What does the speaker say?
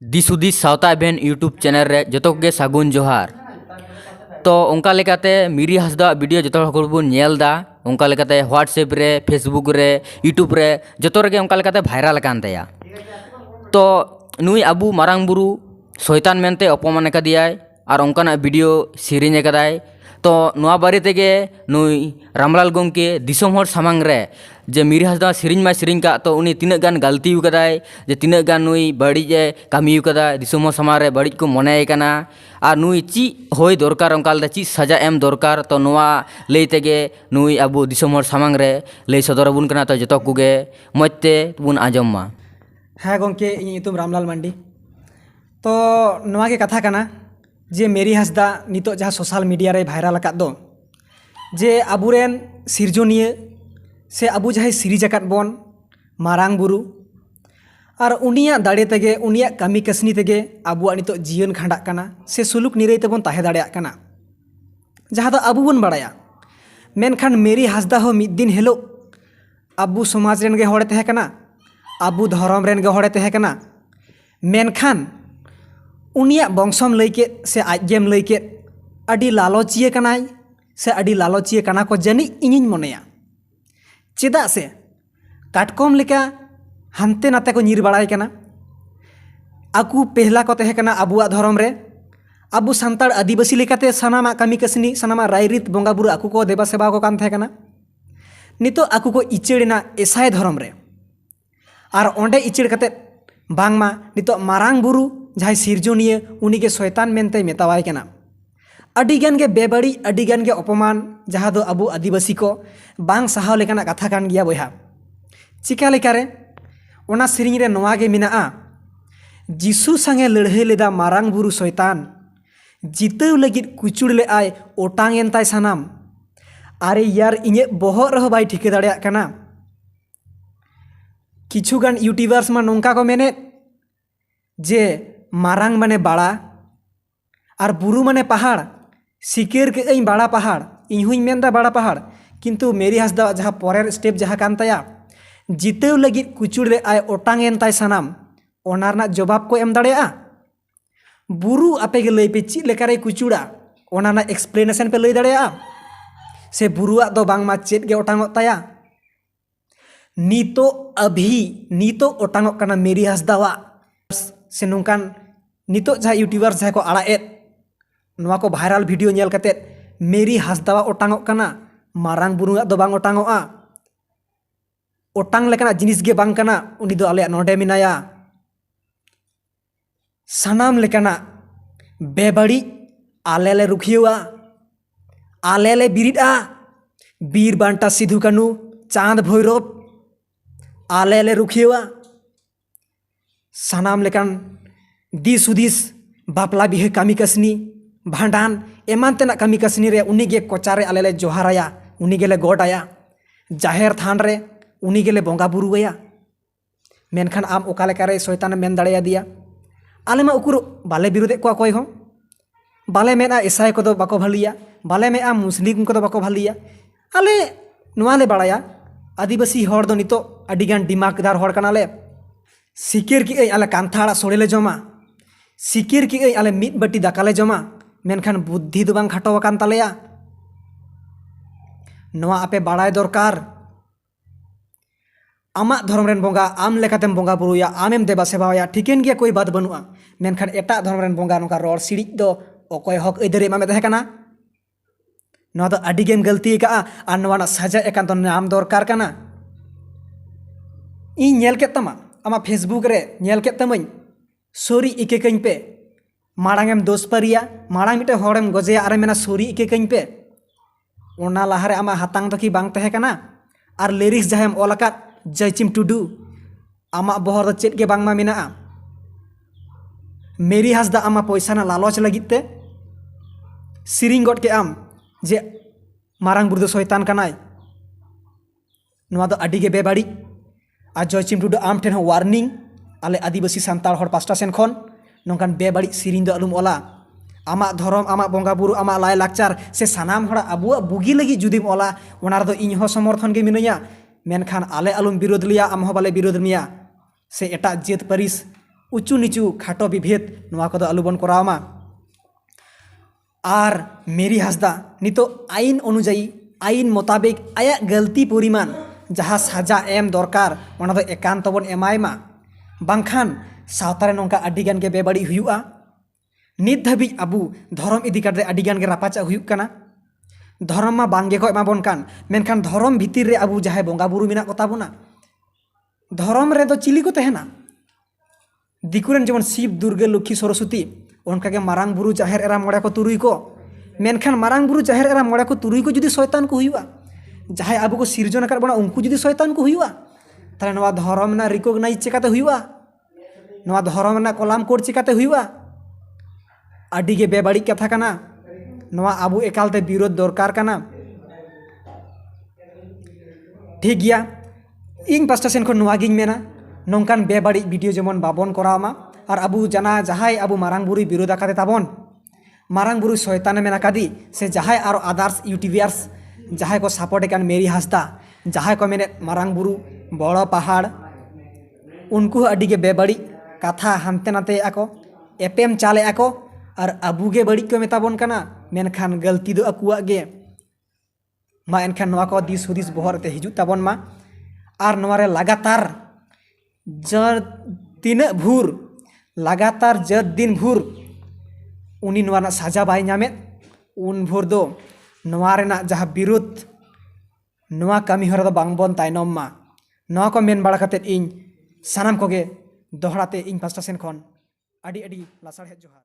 ᱫᱤᱥ ᱦᱩᱫᱤᱥ ᱥᱟᱶᱛᱟ ᱮᱵᱷᱮᱱ ᱤᱭᱩᱴᱩᱵᱽ ᱪᱮᱱᱮᱞ ᱨᱮ ᱡᱚᱛᱚ ᱠᱚᱜᱮ ᱥᱟᱹᱜᱩᱱ ᱡᱚᱦᱟᱨ ᱛᱚ ᱚᱱᱠᱟ ᱞᱮᱠᱟᱛᱮ ᱢᱤᱨᱤ ᱦᱟᱸᱥᱫᱟᱣᱟᱜ ᱵᱷᱤᱰᱤᱭᱳ ᱡᱚᱛᱚ ᱦᱚᱲ ᱠᱚᱵᱚᱱ ᱧᱮᱞ ᱮᱫᱟ ᱚᱱᱠᱟ ᱞᱮᱠᱟᱛᱮ ᱦᱳᱣᱟᱴᱥᱮᱯ ᱨᱮ ᱯᱷᱮᱥᱵᱩᱠ ᱨᱮ ᱤᱭᱩᱴᱩᱵᱽ ᱨᱮ ᱡᱚᱛᱚ ᱨᱮᱜᱮ ᱚᱱᱠᱟ ᱞᱮᱠᱟᱛᱮ ᱵᱷᱟᱭᱨᱟᱞ ᱟᱠᱟᱱ ᱛᱟᱭᱟ ᱛᱚ ᱱᱩᱭ ᱟᱵᱚ ᱢᱟᱨᱟᱝ ᱵᱩᱨᱩ ᱥᱚᱭᱛᱟᱱ ᱢᱮᱱᱛᱮ ᱚᱯᱚᱢᱟᱱ ᱟᱠᱟᱫᱮᱭᱟᱭ ᱟᱨ ᱚᱱᱠᱟᱱᱟᱜ ᱵᱷᱤᱰᱤᱭᱳ ᱥᱮᱨᱮᱧ ᱟᱠᱟᱫᱟᱭ ᱛᱚ ᱱᱚᱣᱟ ᱵᱟᱨᱮ ᱛᱮᱜᱮ ᱱᱩᱭ ᱨᱟᱢᱞᱟᱞ ᱜᱚᱢᱠᱮ ᱫᱤᱥᱚᱢ ᱦᱚᱲ ᱥᱟᱢᱟᱝ ᱨᱮ ᱡᱮ ᱢᱤᱨᱤ ᱦᱟᱸᱥᱫᱟ ᱥᱮᱨᱮᱧ ᱢᱟᱭ ᱥᱮᱨᱮᱧ ᱟᱠᱟᱫ ᱛᱚ ᱩᱱᱤ ᱛᱤᱱᱟᱹᱜ ᱜᱟᱱ ᱜᱟᱹᱞᱛᱤ ᱟᱠᱟᱫᱟᱭ ᱡᱮ ᱛᱤᱱᱟᱹᱜ ᱜᱟᱱ ᱱᱩᱭ ᱵᱟᱹᱲᱤᱡ ᱮ ᱠᱟᱹᱢᱤ ᱟᱠᱟᱫᱟ ᱫᱤᱥᱚᱢ ᱦᱚᱲ ᱥᱟᱢᱟᱝ ᱨᱮ ᱵᱟᱹᱲᱤᱡ ᱠᱚ ᱢᱚᱱᱮ ᱟᱭ ᱠᱟᱱᱟ ᱟᱨ ᱱᱩᱭ ᱪᱮᱫ ᱦᱩᱭ ᱫᱚᱨᱠᱟᱨ ᱚᱱᱠᱟ ᱞᱮᱠᱟ ᱪᱮᱫ ᱥᱟᱡᱟ ᱮᱢ ᱫᱚᱨᱠᱟᱨ ᱛᱚ ᱱᱚᱣᱟ ᱞᱟᱹᱭ ᱛᱮᱜᱮ ᱱᱩᱭ ᱟᱵᱚ ᱫᱤᱥᱚᱢ ᱦᱚᱲ ᱥᱟᱢᱟᱝ ᱨᱮ ᱞᱟᱹᱭ ᱥᱚᱫᱚᱨ ᱟᱵᱚᱱ ᱠᱟᱱᱟ ᱛᱚ ᱡᱚᱛᱚ ᱠᱚᱜᱮ ᱢᱚᱡᱽ ᱛᱮᱵᱚᱱ ᱟᱸᱡᱚᱢ ᱢᱟ ᱦᱮᱸ ᱜᱚᱢᱠᱮ ᱤᱧᱟᱹᱜ ᱧᱩᱛᱩᱢ ᱨᱟᱢᱞᱟᱞ ᱢᱟᱱᱰᱤ ᱛᱚ ᱱᱚᱣᱟ ᱜᱮ ᱠᱟᱛᱷᱟ ᱠᱟᱱᱟ ᱡᱮ ᱢᱮᱨᱤ ᱦᱟᱸᱥᱫᱟ ᱱᱤᱛᱚᱜ ᱡᱟᱦᱟᱸ ᱥᱳᱥᱟᱞ ᱢᱤᱰᱤᱭᱟ ᱨᱮ ᱵᱷᱟᱭᱨᱟᱞ ᱟᱠᱟᱫ ᱫᱚ ᱡᱮ ᱟᱵᱚ ᱨᱮᱱ ᱥᱤᱨᱡᱚᱱᱤᱭᱟᱹ ᱥᱮ ᱟᱵᱚ ᱡᱟᱦᱟᱸᱭ ᱥᱤᱨᱤᱡᱽ ᱟᱠᱟᱫ ᱵᱚᱱ ᱢᱟᱨᱟᱝ ᱵᱳᱨᱳ ᱟᱨ ᱩᱱᱤᱭᱟᱜ ᱫᱟᱲᱮ ᱛᱮᱜᱮ ᱩᱱᱤᱭᱟᱜ ᱠᱟᱹᱢᱤ ᱠᱟᱹᱥᱱᱤ ᱛᱮᱜᱮ ᱟᱵᱚᱣᱟᱜ ᱱᱤᱛᱚᱜ ᱡᱤᱭᱚᱱ ᱠᱷᱟᱸᱰᱟᱜ ᱠᱟᱱᱟ ᱥᱮ ᱥᱩᱞᱩᱠ ᱱᱤᱨᱟᱹᱭ ᱛᱮᱵᱚᱱ ᱛᱟᱦᱮᱸ ᱫᱟᱲᱮᱭᱟᱜ ᱠᱟᱱᱟ ᱡᱟᱦᱟᱸ ᱫᱚ ᱟᱵᱚ ᱵᱚᱱ ᱵᱟᱲᱟᱭᱟ ᱢᱮᱱᱠᱷᱟᱱ ᱢᱮᱨᱤ ᱦᱟᱸᱥᱫᱟ ᱦᱚᱸ ᱢᱤᱫ ᱫᱤᱱ ᱦᱤᱞᱳᱜ ᱟᱵᱚ ᱥᱚᱢᱟᱡᱽ ᱨᱮᱱ ᱜᱮ ᱦᱚᱲᱮ ᱛᱟᱦᱮᱸ ᱠᱟᱱᱟ ᱟᱵᱚ ᱫᱷᱚᱨᱚᱢ ᱨᱮᱱ ᱜᱮ ᱦᱚᱲᱮ ᱛᱟᱦᱮᱸ ᱠᱟᱱᱟ ᱢᱮᱱᱠᱷᱟᱱ ᱩᱱᱤᱭᱟᱜ ᱵᱚᱝᱥᱚᱢ ᱞᱟᱹᱭ ᱠᱮᱫ ᱥᱮ ᱟᱡ ᱜᱮᱢ ᱞᱟᱹᱭ ᱠᱮᱫ ᱟᱹᱰᱤ ᱞᱟᱞᱚᱪᱤᱭᱟᱹ ᱠᱟᱱᱟᱭ ᱥᱮ ᱟᱹᱰᱤ ᱞᱟᱞᱚᱪᱤᱭᱟᱹ ᱠᱟᱱᱟ ᱠᱚ ᱡᱟᱹᱱᱤᱡ ᱤᱧᱤᱧ ᱢᱚᱱᱮᱭᱟ ᱪᱮᱫᱟᱜ ᱥᱮ ᱠᱟᱴᱠᱚᱢ ᱞᱮᱠᱟ ᱦᱟᱱᱛᱮ ᱱᱟᱛᱮ ᱠᱚ ᱧᱤᱨ ᱵᱟᱲᱟᱭ ᱠᱟᱱᱟ ᱟᱠᱚ ᱯᱮᱦᱞᱟ ᱠᱚ ᱛᱟᱦᱮᱸ ᱠᱟᱱᱟ ᱟᱵᱚᱣᱟᱜ ᱫᱷᱚᱨᱚᱢ ᱨᱮ ᱟᱵᱚ ᱥᱟᱱᱛᱟᱲ ᱟᱹᱫᱤᱵᱟᱹᱥᱤ ᱞᱮᱠᱟᱛᱮ ᱥᱟᱱᱟᱢᱟᱜ ᱠᱟᱹᱢᱤ ᱠᱟᱹᱥᱱᱤ ᱥᱟᱱᱟᱢᱟᱜ ᱨᱟᱭᱨᱤᱛ ᱵᱚᱸᱜᱟ ᱵᱳᱨᱳ ᱟᱠᱚ ᱠᱚ ᱫᱮᱵᱟ ᱥᱮᱵᱟ ᱟᱠᱚ ᱠᱟᱱ ᱛᱟᱦᱮᱸ ᱠᱟᱱᱟ ᱱᱤᱛᱚᱜ ᱟᱠᱚ ᱠᱚ ᱩᱪᱟᱹᱲ ᱮᱱᱟ ᱤᱥᱟᱭ ᱫᱷᱚᱨᱚᱢ ᱨᱮ ᱟᱨ ᱚᱸᱰᱮ ᱩᱪᱟᱹᱲ ᱠᱟᱛᱮ ᱵᱟᱝᱢᱟ ᱱᱤᱛᱚᱜ ᱢᱟᱨᱟᱝ ᱵᱳᱨᱳ ᱡᱟᱦᱟᱸᱭ ᱥᱤᱨᱡᱚᱱᱤᱭᱟᱹ ᱩᱱᱤᱜᱮ ᱥᱚᱭᱛᱟᱱ ᱢᱮᱱᱛᱮᱭ ᱢᱮᱛᱟᱣᱟᱭ ᱠᱟᱱᱟ ᱟᱹᱰᱤᱜᱟᱱ ᱜᱮ ᱵᱮᱵᱟᱹᱲᱤᱡ ᱟᱹᱰᱤᱜᱟᱱ ᱜᱮ ᱚᱯᱚᱢᱟᱱ ᱡᱟᱦᱟᱸ ᱫᱚ ᱟᱵᱚ ᱟᱹᱫᱤᱵᱟᱹᱥᱤ ᱠᱚ ᱵᱟᱝ ᱥᱟᱦᱟᱣ ᱞᱮᱠᱟᱱᱟᱜ ᱠᱟᱛᱷᱟ ᱠᱟᱱ ᱜᱮᱭᱟ ᱵᱚᱭᱦᱟ ᱪᱤᱠᱟᱹ ᱞᱮᱠᱟᱨᱮ ᱚᱱᱟ ᱥᱮᱨᱮᱧ ᱨᱮ ᱱᱚᱣᱟᱜᱮ ᱢᱮᱱᱟᱜᱼᱟ ᱡᱤᱥᱩ ᱥᱟᱝᱮ ᱞᱟᱹᱲᱦᱟᱹᱭ ᱞᱮᱫᱟ ᱢᱟᱨᱟᱝ ᱵᱳᱨᱳ ᱥᱚᱭᱛᱟᱱ ᱡᱤᱛᱟᱹᱣ ᱞᱟᱹᱜᱤᱫ ᱠᱩᱪᱩᱲ ᱞᱮᱫᱟᱭ ᱚᱴᱟᱝ ᱮᱱ ᱛᱟᱭ ᱥᱟᱱᱟᱢ ᱟᱨᱮ ᱭᱟᱨ ᱤᱧᱟᱹᱜ ᱵᱚᱦᱚᱜ ᱨᱮᱦᱚᱸ ᱵᱟᱭ ᱴᱷᱤᱠᱟᱹ ᱫᱟᱲᱮᱭᱟᱜ ᱠᱟᱱᱟ ᱠᱤᱪᱷᱩ ᱜᱟᱱ ᱤᱭᱩᱴᱩᱵᱟᱨᱥ ᱢᱟ ᱱᱚᱝᱠᱟ ᱠᱚ ᱢᱮᱱᱮᱫ ᱡᱮ ᱢᱟᱨᱟᱝ ᱢᱟᱱᱮ ᱵᱟᱲᱟ ᱟᱨ ᱵᱩᱨᱩ ᱢᱟᱱᱮ ᱯᱟᱦᱟᱲ ᱥᱤᱠᱟᱹᱨ ᱠᱮᱜ ᱟᱹᱧ ᱵᱟᱲᱟ ᱯᱟᱦᱟᱲ ᱤᱧ ᱦᱚᱸᱧ ᱢᱮᱱᱫᱟ ᱵᱟᱲᱟ ᱯᱟᱦᱟᱲ ᱠᱤᱱᱛᱩ ᱢᱮᱨᱤ ᱦᱟᱸᱥᱫᱟ ᱟᱜ ᱡᱟᱦᱟᱸ ᱯᱚᱨᱮᱨ ᱥᱴᱮᱯ ᱡᱟᱦᱟᱸ ᱠᱟᱱ ᱛᱟᱭᱟ ᱡᱤᱛᱟᱹᱣ ᱞᱟᱹᱜᱤᱫ ᱠᱩᱪᱩᱲ ᱞᱮᱜ ᱟᱭ ᱚᱴᱟᱝ ᱮᱱ ᱛᱟᱭ ᱥᱟᱱᱟᱢ ᱚᱱᱟ ᱨᱮᱱᱟᱜ ᱡᱚᱵᱟᱵ ᱠᱚ ᱮᱢ ᱫᱟᱲᱮᱭᱟᱜᱼᱟ ᱵᱩᱨᱩ ᱟᱯᱮ ᱜᱮ ᱞᱟᱹᱭ ᱯᱮ ᱪᱮᱫ ᱞᱮᱠᱟ ᱨᱮᱭ ᱠᱩᱪᱩᱲᱟ ᱚᱱᱟ ᱨᱮᱱᱟᱜ ᱮᱠᱥᱯᱞᱮᱱᱮᱥᱮᱱ ᱯᱮ ᱞᱟᱹᱭ ᱫᱟᱲᱮᱭᱟᱜᱼᱟ ᱥᱮ ᱵᱩᱨᱩᱣᱟᱜ ᱫᱚ ᱵᱟᱝᱢᱟ ᱪᱮᱫ ᱜᱮ ᱚᱴᱟᱝ ᱚᱜ ᱛᱟᱭᱟ ᱱᱤᱛᱚᱜ ᱟᱹᱵᱷᱤ ᱱᱤᱛᱚᱜ ᱚᱴᱟᱝ ᱚᱜ ᱠᱟᱱᱟ ᱢᱮᱨᱤ ᱦᱟᱸᱥᱫᱟᱣᱟᱜ ᱥᱮ ᱱᱚᱝᱠᱟᱱ ᱱᱤᱛᱚᱜ ᱡᱟᱦᱟᱸ ᱤᱭᱩᱴᱩᱵᱟᱨ ᱡᱟᱦᱟᱸᱭ ᱠᱚ ᱟᱲᱟᱜ ᱮᱫ ᱱᱚᱣᱟ ᱠᱚ ᱵᱷᱟᱭᱨᱟᱞ ᱵᱷᱤᱰᱤᱭᱳ ᱧᱮᱞ ᱠᱟᱛᱮ ᱢᱮᱨᱤ ᱦᱟᱸᱥᱫᱟᱣᱟᱜ ᱚᱴᱟᱝ ᱚᱜ ᱠᱟᱱᱟ ᱢᱟᱨᱟᱝ ᱵᱩᱨᱩᱣᱟᱜ ᱫᱚ ᱵᱟᱝ ᱚᱴᱟᱝ ᱚᱜᱼᱟ ᱚᱴᱟᱝ ᱞᱮᱠᱟᱱᱟᱜ ᱡᱤᱱᱤᱥ ᱜᱮ ᱵᱟᱝ ᱠᱟᱱᱟ ᱩᱱᱤ ᱫᱚ ᱟᱞᱮᱭᱟᱜ ᱱᱚᱰᱮ ᱢᱮᱱᱟᱭᱟ ᱥᱟᱱᱟᱢ ᱞᱮᱠᱟᱱᱟᱜ ᱵᱮᱵᱟᱹᱲᱤᱡ ᱟᱞᱮ ᱞᱮ ᱨᱩᱠᱷᱤᱭᱟᱹᱣᱟ ᱟᱞᱮ ᱞᱮ ᱵᱤᱨᱤᱫᱼᱟ ᱵᱤᱨ ᱵᱟᱱᱴᱟ ᱥᱤᱫᱩ ᱠᱟᱹᱱᱩ ᱪᱟᱸᱫᱽ ᱵᱷᱳᱭᱨᱳᱵᱽ ᱟᱞᱮ ᱞᱮ ᱨᱩᱠᱷᱤᱭᱟᱹᱣᱟ ᱥᱟᱱᱟᱢ ᱞᱮᱠᱟᱱ ᱫᱤᱥ ᱦᱩᱫᱤᱥ ᱵᱟᱯᱞᱟ ᱵᱤᱦᱟᱹ ᱠᱟᱹᱢᱤ ᱠᱟᱹᱥᱱᱤ ᱵᱷᱟᱸᱰᱟᱱ ᱮᱢᱟᱱ ᱛᱮᱱᱟᱜ ᱠᱟᱹᱢᱤ ᱠᱟᱹᱥᱱᱤ ᱨᱮ ᱩᱱᱤ ᱜᱮ ᱠᱚᱪᱟ ᱨᱮ ᱟᱞᱮ ᱞᱮ ᱡᱚᱦᱟᱨ ᱟᱭᱟ ᱩᱱᱤ ᱜᱮᱞᱮ ᱜᱚᱰ ᱟᱭᱟ ᱡᱟᱦᱮᱨ ᱛᱷᱟᱱ ᱨᱮ ᱩᱱᱤ ᱜᱮᱞᱮ ᱵᱚᱸᱜᱟᱼᱵᱩᱨᱩ ᱟᱭᱟ ᱢᱮᱱᱠᱷᱟᱱ ᱟᱢ ᱚᱠᱟ ᱞᱮᱠᱟᱨᱮ ᱥᱚᱭᱛᱟᱱᱮᱢ ᱢᱮᱱ ᱫᱟᱲᱮᱭᱟᱫᱮᱭᱟ ᱟᱞᱮ ᱢᱟ ᱩᱠᱩᱨ ᱵᱟᱞᱮ ᱵᱤᱨᱳᱫᱮᱜ ᱠᱚᱣᱟ ᱚᱠᱚᱭ ᱦᱚᱸ ᱵᱟᱞᱮ ᱢᱮᱱᱟ ᱤᱥᱟᱭ ᱠᱚᱫᱚ ᱵᱟᱠᱚ ᱵᱷᱟᱹᱞᱤᱭᱟ ᱵᱟᱞᱮ ᱢᱮᱱᱟ ᱢᱩᱥᱞᱤᱢ ᱠᱚᱫᱚ ᱵᱟᱠᱚ ᱵᱷᱟᱹᱞᱤᱭᱟ ᱟᱞᱮ ᱱᱚᱣᱟ ᱞᱮ ᱵᱟᱲᱟᱭᱟ ᱟᱹᱫᱤᱵᱟᱹᱥᱤ ᱦᱚᱲ ᱫᱚ ᱱᱤᱛᱚᱜ ᱟᱹᱰᱤᱜᱟᱱ ᱫᱤᱢᱟᱜᱽᱫᱟᱨ ᱦᱚᱲ ᱠᱟᱱᱟᱞᱮ ᱥᱤᱠᱟᱹᱨ ᱠᱮᱜ ᱟᱹᱧ ᱟᱞᱮ ᱠᱟᱱᱛᱷᱟ ᱟᱲᱟᱜ ᱥᱳᱲᱮ ᱞᱮ ᱡᱚᱢᱟ ᱥᱤᱠᱟᱹᱨ ᱠᱮᱜ ᱟᱹᱧ ᱟᱞᱮ ᱢᱤᱫ ᱵᱟᱹᱴᱤ ᱫᱟᱠᱟ ᱞᱮ ᱡᱚᱢᱟ ᱢᱮᱱᱠᱷᱟᱱ ᱵᱩᱫᱽᱫᱷᱤ ᱫᱚ ᱵᱟᱝ ᱠᱷᱟᱴᱚ ᱟᱠᱟᱱ ᱛᱟᱞᱮᱭᱟ ᱱᱚᱣᱟ ᱟᱯᱮ ᱵᱟᱲᱟᱭ ᱫᱚᱨᱠᱟᱨ ᱟᱢᱟᱜ ᱫᱷᱚᱨᱚᱢ ᱨᱮᱱ ᱵᱚᱸᱜᱟ ᱟᱢ ᱞᱮᱠᱟᱛᱮᱢ ᱵᱚᱸᱜᱟ ᱵᱳᱨᱳᱭᱟ ᱟᱢᱮᱢ ᱫᱮᱵᱟ ᱥᱮᱵᱟᱣᱟᱭᱟ ᱴᱷᱤᱠᱟᱹᱱ ᱜᱮᱭᱟ ᱠᱳᱭ ᱵᱟᱛ ᱵᱟᱹᱱᱩᱜᱼᱟ ᱢᱮᱱᱠᱷᱟᱱ ᱮᱴᱟᱜ ᱫᱷᱚᱨᱚᱢ ᱨᱮᱱ ᱵᱚᱸᱜᱟ ᱱᱚᱝᱠᱟ ᱨᱚᱲ ᱥᱤᱬᱤᱡ ᱫᱚ ᱚᱠᱚᱭ ᱦᱚᱸᱠ ᱟᱹᱭᱫᱟᱹᱨᱮ ᱮᱢᱟᱢ ᱛᱟᱦᱮᱸ ᱠᱟᱱᱟ ᱱᱚᱣᱟ ᱫᱚ ᱟᱹᱰᱤ ᱜᱮᱢ ᱜᱟᱹᱞᱛᱤ ᱟᱠᱟᱫᱼᱟ ᱟᱨ ᱱᱚᱣᱟ ᱨᱮᱱᱟᱜ ᱥᱟᱡᱟ ᱮᱠᱟᱱᱛᱚ ᱧᱟᱢ ᱫᱚᱨᱠᱟᱨ ᱠᱟᱱᱟ ᱤᱧ ᱧᱮᱞ ᱠᱮᱫ ᱛᱟᱢᱟ ᱟᱢᱟᱜ ᱯᱷᱮᱥᱵᱩᱠ ᱨᱮ ᱧᱮᱞ ᱠᱮᱫ ᱛᱟᱢᱟᱹᱧ ᱥᱳᱨᱤ ᱤᱠᱟᱹ ᱠᱟᱹᱧ ᱯᱮ ᱢᱟᱲᱟᱝ ᱮᱢ ᱫᱳᱥ ᱯᱟᱹᱨᱤᱭᱟ ᱢᱟᱲᱟᱝ ᱢᱤᱫᱴᱮᱱ ᱦᱚᱲᱮᱢ ᱜᱚᱡᱮᱭᱟ ᱟᱨᱮᱢ ᱢᱮᱱᱟ ᱥᱳᱨᱤ ᱤᱠᱟᱹ ᱠᱟᱹᱧ ᱯᱮ ᱚᱱᱟ ᱞᱟᱦᱟᱨᱮ ᱟᱢᱟᱜ ᱦᱟᱛᱟᱝ ᱫᱚᱠᱤ ᱵᱟᱝ ᱛᱟᱦᱮᱸ ᱠᱟᱱᱟ ᱟᱨ ᱞᱤᱨᱤᱠᱥ ᱡᱟᱦᱟᱸᱭᱮᱢ ᱚᱞ ᱟᱠᱟᱫ ᱡᱚᱭᱪᱤᱱ ᱴᱩᱰᱩ ᱟᱢᱟᱜ ᱵᱚᱦᱚᱜ ᱨᱮᱫᱚ ᱪᱮᱫ ᱜᱮ ᱵᱟᱝᱢᱟ ᱢᱮᱱᱟᱜᱼᱟ ᱢᱮᱨᱤ ᱦᱟᱸᱥᱫᱟ ᱟᱢᱟᱜ ᱯᱚᱭᱥᱟ ᱨᱮᱱᱟᱜ ᱞᱟᱞᱚᱪ ᱞᱟᱹᱜᱤᱫ ᱛᱮ ᱥᱮᱨᱮᱧ ᱜᱚᱫ ᱠᱮᱫ ᱟᱢ ᱡᱮ ᱢᱟᱨᱟᱝ ᱵᱩᱨᱩ ᱫᱚ ᱥᱚᱭᱛᱟᱱ ᱠᱟᱱᱟᱭ ᱱᱚᱣᱟ ᱫᱚ ᱟᱹᱰᱤ ᱜᱮ ᱵᱮᱵᱟᱹᱲᱤᱡ ᱟᱨ ᱡᱚᱭᱪᱤᱢ ᱴᱩᱰᱩ ᱟᱢ ᱴᱷᱮᱱ ᱦᱚᱸ ᱳᱣᱟᱨᱱᱤᱝ ᱟᱞᱮ ᱟᱹᱫᱤᱵᱟᱹᱥᱤ ᱥᱟᱱᱛᱟᱲ ᱦᱚᱲ ᱯᱟᱥᱴᱟ ᱥᱮᱱ ᱠᱷᱚᱱ ᱱᱚᱝᱠᱟᱱ ᱵᱮᱵᱟᱹᱲᱤᱡ ᱥᱮᱨᱮᱧ ᱫᱚ ᱟᱞᱚᱢ ᱚᱞᱟ ᱟᱢᱟᱜ ᱫᱷᱚᱨᱚᱢ ᱟᱢᱟᱜ ᱵᱚᱸᱜᱟ ᱵᱳᱨᱳ ᱟᱢᱟᱜ ᱞᱟᱭᱼᱞᱟᱠᱪᱟᱨ ᱥᱮ ᱥᱟᱱᱟᱢ ᱦᱚᱲᱟᱜ ᱟᱵᱚᱣᱟᱜ ᱵᱩᱜᱤ ᱞᱟᱹᱜᱤᱫ ᱡᱩᱫᱤᱢ ᱚᱞᱟ ᱚᱱᱟ ᱨᱮᱫᱚ ᱤᱧ ᱦᱚᱸ ᱥᱚᱢᱚᱨᱛᱷᱚᱱ ᱜᱮ ᱢᱤᱱᱟᱹᱧᱟ ᱢᱮᱱᱠᱷᱟᱱ ᱟᱞᱮ ᱟᱞᱚᱢ ᱵᱤᱨᱳᱫᱷ ᱞᱮᱭᱟ ᱟᱢ ᱦᱚᱸ ᱵᱟᱞᱮ ᱵᱤᱨᱳᱫᱷ ᱢᱮᱭᱟ ᱥᱮ ᱮᱴᱟᱜ ᱡᱟᱹᱛ ᱯᱟᱹᱨᱤᱥ ᱩᱪᱩ ᱱᱤᱪᱩ ᱠᱷᱟᱴᱚ ᱵᱤᱵᱷᱮᱫ ᱱᱚᱣᱟ ᱠᱚᱫᱚ ᱟᱞᱚ ᱵᱚᱱ ᱠᱚᱨᱟᱣ ᱢᱟ ᱟᱨ ᱢᱮᱨᱤ ᱦᱟᱸᱥᱫᱟ ᱱᱤᱛᱚᱜ ᱟᱭᱤᱱ ᱚᱱᱩᱡᱟᱭᱤ ᱟᱭᱤᱱ ᱢᱚᱛᱟᱵᱤᱠ ᱟᱭᱟᱜ ᱜᱟᱹᱞᱛᱤ ᱯᱚᱨᱤᱢᱟᱱ ᱡᱟᱦᱟᱸ ᱥᱟᱡᱟ ᱮᱢ ᱫᱚᱨᱠᱟᱨ ᱚᱱᱟ ᱫᱚ ᱮᱠᱟᱱᱛᱚ ᱵᱚᱱ ᱮᱢᱟᱭ ᱢᱟ ᱵᱟᱝᱠᱷᱟᱱ ᱥᱟᱶᱛᱟ ᱨᱮ ᱱᱚᱝᱠᱟ ᱟᱹᱰᱤ ᱜᱟᱱ ᱜᱮ ᱵᱮᱵᱟᱹᱲᱤᱡ ᱦᱩᱭᱩᱜᱼᱟ ᱱᱤᱛ ᱫᱷᱟᱹᱵᱤᱡ ᱟᱵᱚ ᱫᱷᱚᱨᱚᱢ ᱤᱫᱤ ᱠᱟᱛᱮ ᱟᱹᱰᱤ ᱜᱟᱱ ᱜᱮ ᱨᱟᱯᱟᱪᱟᱜ ᱦᱩᱭᱩᱜ ᱠᱟᱱᱟ ᱫᱷᱚᱨᱚᱢ ᱢᱟ ᱵᱟᱝ ᱜᱮᱠᱚ ᱮᱢᱟ ᱵᱚᱱ ᱠᱟᱱ ᱢᱮᱱᱠᱷᱟᱱ ᱫᱷᱚᱨᱚᱢ ᱵᱷᱤᱛᱤᱨ ᱨᱮ ᱟᱵᱚ ᱡᱟᱦᱟᱸᱭ ᱵᱚᱸᱜᱟᱼᱵᱩᱨᱩ ᱢᱮᱱᱟᱜ ᱠᱚᱛᱟ ᱵᱚᱱᱟ ᱫᱷᱚᱨᱚᱢ ᱨᱮᱫᱚ ᱪᱤᱞᱤ ᱠᱚ ᱛᱟᱦᱮᱱᱟ ᱫᱤᱠᱩ ᱨᱮᱱ ᱡᱮᱢᱚᱱ ᱥᱤᱵ ᱫᱩᱨᱜᱟᱹ ᱞᱚᱠᱠᱷᱤ ᱥᱚᱨᱚᱥᱚᱛᱤ ᱚᱱᱠᱟᱜᱮ ᱢᱟᱨᱟᱝ ᱵᱩᱨᱩ ᱡᱟᱦᱮᱨ ᱮᱨᱟ ᱢᱚᱬᱮ ᱠᱚ ᱛᱩᱨᱩᱭ ᱠᱚ ᱢᱮᱱᱠᱷᱟᱱ ᱢᱟᱨᱟᱝ ᱵᱩᱨᱩ ᱡᱟᱦᱮᱨ ᱮᱨᱟ ᱢᱚᱬᱮ ᱠᱚ ᱛᱩᱨᱩᱭ ᱠᱚ ᱡᱩᱫᱤ ᱥᱚᱭᱛᱟᱱ ᱠᱚ ᱦᱩᱭᱩᱜᱼᱟ ᱡᱟᱦᱟᱸᱭ ᱟᱵᱚ ᱠᱚ ᱥᱤᱨᱡᱚᱱ ᱟᱠᱟᱫ ᱵᱚᱱᱟ ᱩᱱᱠᱩ ᱡᱩᱫᱤ ᱥᱚᱭᱛᱟᱱ ᱠᱚ ᱦᱩᱭᱩᱜᱼᱟ ᱛᱟᱦᱚᱞᱮ ᱱᱚᱣᱟ ᱫᱷᱚᱨᱚᱢ ᱨᱮᱱᱟᱜ ᱨᱤᱠᱳᱜᱽᱱᱟᱭᱤᱡᱽ ᱪᱤᱠᱟᱹᱛᱮ ᱦᱩᱭᱩᱜᱼᱟ ᱱᱚᱣᱟ ᱫᱷᱚᱨᱚᱢ ᱨᱮᱱᱟᱜ ᱠᱚᱞᱟᱢ ᱠᱳᱰ ᱪᱤᱠᱟᱹᱛᱮ ᱦᱩᱭᱩᱜᱼᱟ ᱟᱹᱰᱤ ᱜᱮ ᱵᱮᱵᱟᱹᱲᱤᱡ ᱠᱟᱛᱷᱟ ᱠᱟᱱᱟ ᱱᱚᱣᱟ ᱟᱵᱚ ᱮᱠᱟᱞ ᱛᱮ ᱵᱤᱨᱳᱫᱷ ᱫᱚᱨᱠᱟᱨ ᱠᱟᱱᱟ ᱴᱷᱤᱠ ᱜᱮᱭᱟ ᱤᱧ ᱯᱟᱥᱴᱟ ᱥᱮᱱ ᱠᱷᱚᱱ ᱱᱚᱣᱟᱜᱤᱧ ᱢᱮᱱᱟ ᱱᱚᱝᱠᱟᱱ ᱵᱮᱵᱟᱹᱲᱤᱡ ᱵᱷᱤᱰᱤᱭᱳ ᱡᱮᱢᱚᱱ ᱵᱟᱵᱚᱱ ᱠᱚᱨᱟᱣ ᱢᱟ ᱟᱨ ᱟᱵᱚ ᱡᱟᱱᱟ ᱡᱟᱦᱟᱸᱭ ᱟᱵᱚ ᱢᱟᱨᱟᱝ ᱵᱳᱨᱳᱭ ᱵᱤᱨᱳᱫᱷ ᱟᱠᱟᱫᱮ ᱛᱟᱵᱚᱱ ᱢᱟᱨᱟᱝ ᱵᱳᱨᱳ ᱥᱚᱭᱛᱟᱱᱮ ᱢᱮᱱ ᱟᱠᱟᱫᱮ ᱥᱮ ᱡᱟᱦᱟᱸᱭ ᱟᱨᱚ ᱟᱫᱟᱨᱥ ᱤᱭᱩᱴᱩᱵᱟᱨᱥ ᱡᱟᱦᱟᱸᱭ ᱠᱚ ᱥᱟᱯᱳᱨᱴ ᱮ ᱠᱟᱱ ᱢᱮᱨᱤ ᱦᱟᱸᱥᱫᱟ ᱡᱟᱦᱟᱸᱭ ᱠᱚ ᱢᱮᱱᱮᱫ ᱢᱟᱨᱟᱝ ᱵᱳᱨᱳ ᱵᱚᱲᱚ ᱯᱟᱦᱟᱲ ᱩᱱᱠᱩ ᱦᱚᱸ ᱟᱹᱰᱤᱜᱮ ᱵᱮᱵᱟᱹᱲᱤᱡ ᱠᱟᱛᱷᱟ ᱦᱟᱱᱛᱮ ᱱᱟᱛᱮᱭᱮᱜᱼᱟ ᱠᱚ ᱮᱯᱮᱢ ᱪᱟᱞᱮᱜᱼᱟ ᱠᱚ ᱟᱨ ᱟᱵᱚᱜᱮ ᱵᱟᱹᱲᱤᱡ ᱠᱚ ᱢᱮᱛᱟ ᱵᱚᱱ ᱠᱟᱱᱟ ᱢᱮᱱᱠᱷᱟᱱ ᱜᱟᱹᱞᱛᱤ ᱫᱚ ᱟᱠᱚᱣᱟᱜ ᱜᱮ ᱢᱟ ᱮᱱᱠᱷᱟᱱ ᱱᱚᱣᱟ ᱠᱚ ᱫᱤᱥ ᱦᱩᱫᱤᱥ ᱵᱚᱦᱚᱜ ᱨᱮ ᱦᱤᱡᱩᱜ ᱛᱟᱵᱚᱱ ᱢᱟ ᱟᱨ ᱱᱚᱣᱟᱨᱮ ᱞᱟᱜᱟᱛᱟᱨ ᱡᱟᱹᱛ ᱛᱤᱱᱟᱹᱜ ᱵᱷᱳᱨ ᱞᱟᱜᱟᱛᱟᱨ ᱡᱟᱹᱛ ᱫᱤᱱ ᱵᱷᱳᱨ ᱩᱱᱤ ᱱᱚᱣᱟ ᱨᱮᱱᱟᱜ ᱥᱟᱡᱟ ᱵᱟᱭ ᱧᱟᱢᱮᱜ ᱩᱱ ᱵᱷᱳᱨ ᱫᱚ ᱱᱚᱣᱟ ᱨᱮᱱᱟᱜ ᱡᱟᱦᱟᱸ ᱵᱤᱨᱳᱫᱷ ᱱᱚᱣᱟ ᱠᱟᱹᱢᱤ ᱦᱚᱨᱟ ᱫᱚ ᱵᱟᱝᱵᱚᱱ ᱛᱟᱭᱱᱚᱢ ᱢᱟ ᱱᱚᱣᱟ ᱠᱚ ᱢᱮᱱ ᱵᱟᱲᱟ ᱠᱟᱛᱮ ᱤᱧ ᱥᱟᱱᱟᱢ ᱠᱚᱜᱮ ᱫᱚᱦᱲᱟᱛᱮ ᱤᱧ ᱯᱟᱥᱴᱟ ᱥᱮᱱ ᱠᱷᱚᱱ ᱟᱹᱰᱤ ᱟᱹᱰᱤ ᱞᱟᱥᱟᱲᱦᱮᱫ ᱡᱚᱦᱟᱨ